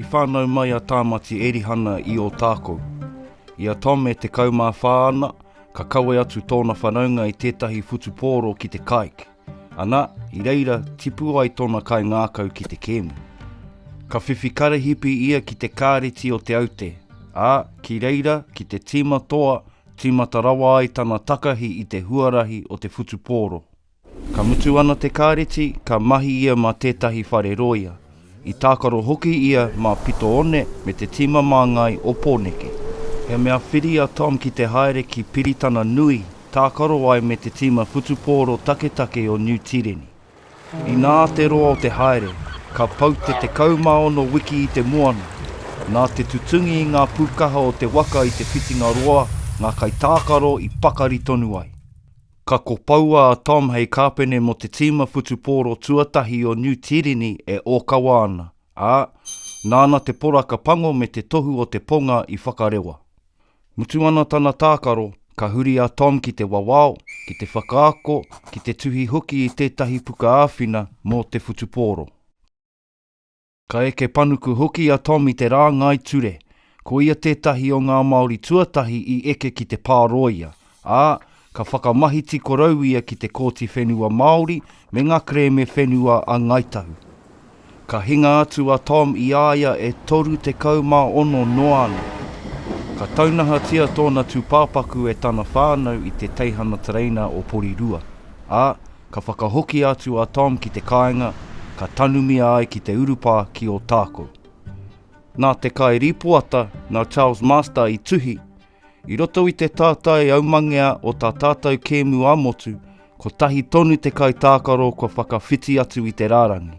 I whānau mai a Tāmati Erihana i Ōtākou. I a Tom e 14 ana, Ka kawe atu tōna whanaunga i tētahi whutupōro ki te kaik, ana, i reira tipu ai tōna kai ngākau ki te kēmu. Ka whiwhi karahipi ia ki te kāreti o Te Aute, ā, ki reira ki te tīma toa, tīmata rawa ai tana takahi i te huarahi o te whutupōro. Ka mutu ana te kāreti, ka mahi ia mā tētahi whare rōia. I tākaro hoki ia mā Pito One me te tīma māngai o Pōneke. He mea whiri a Tom ki te haere ki Piritana Nui, tākaro ai me te tīma whutupōro taketake o Niu Tīreni. Inā te roa o te haere, ka pau te 16 wiki i te moana. Nā te tutungi i ngā pūkaha o te waka i te whitinga roa, ngā kaitākaro i pakari tonu ai. Ka kopoua a Tom hei kāpene mō te tīma whutupōro tuatahi o Niu Tīreni e ōkawa ana, ā, nāna te poraka pango me te tohu o te ponga i whakarewa. Mutu ana tana tākaro, ka huri a Tom ki te wawao, ki te whakaako, ki te tuhi hoki i tētahi puka āwhina mō te whutupōro. Ka eke panuku hoki a Tom i te rāngai ture. Ko ia tētahi o ngā Māori tuatahi i eke ki te pārōia, ā, ka whakamahiti korou ia ki te Kōti Whenua Māori me ngā kerēme whenua a Ngāi Tahu. Ka hinga atu a Tom i a ia e 36 noa ana. Ka taunahatia tōna tūpāpaku e tana whānau i te teihana tereina o Porirua, ā, Ka whakahoki atu a Tom ki te kāinga, ka tanumia ai ki te urupā ki Ōtākou. Nā te kai rīpoata nā Charles Master i tuhi, i roto i te tātai aumangea o tā tātou kēmu ā-motu, kotahi tonu te kaitākaro kua whakawhiti atu i te rārangi.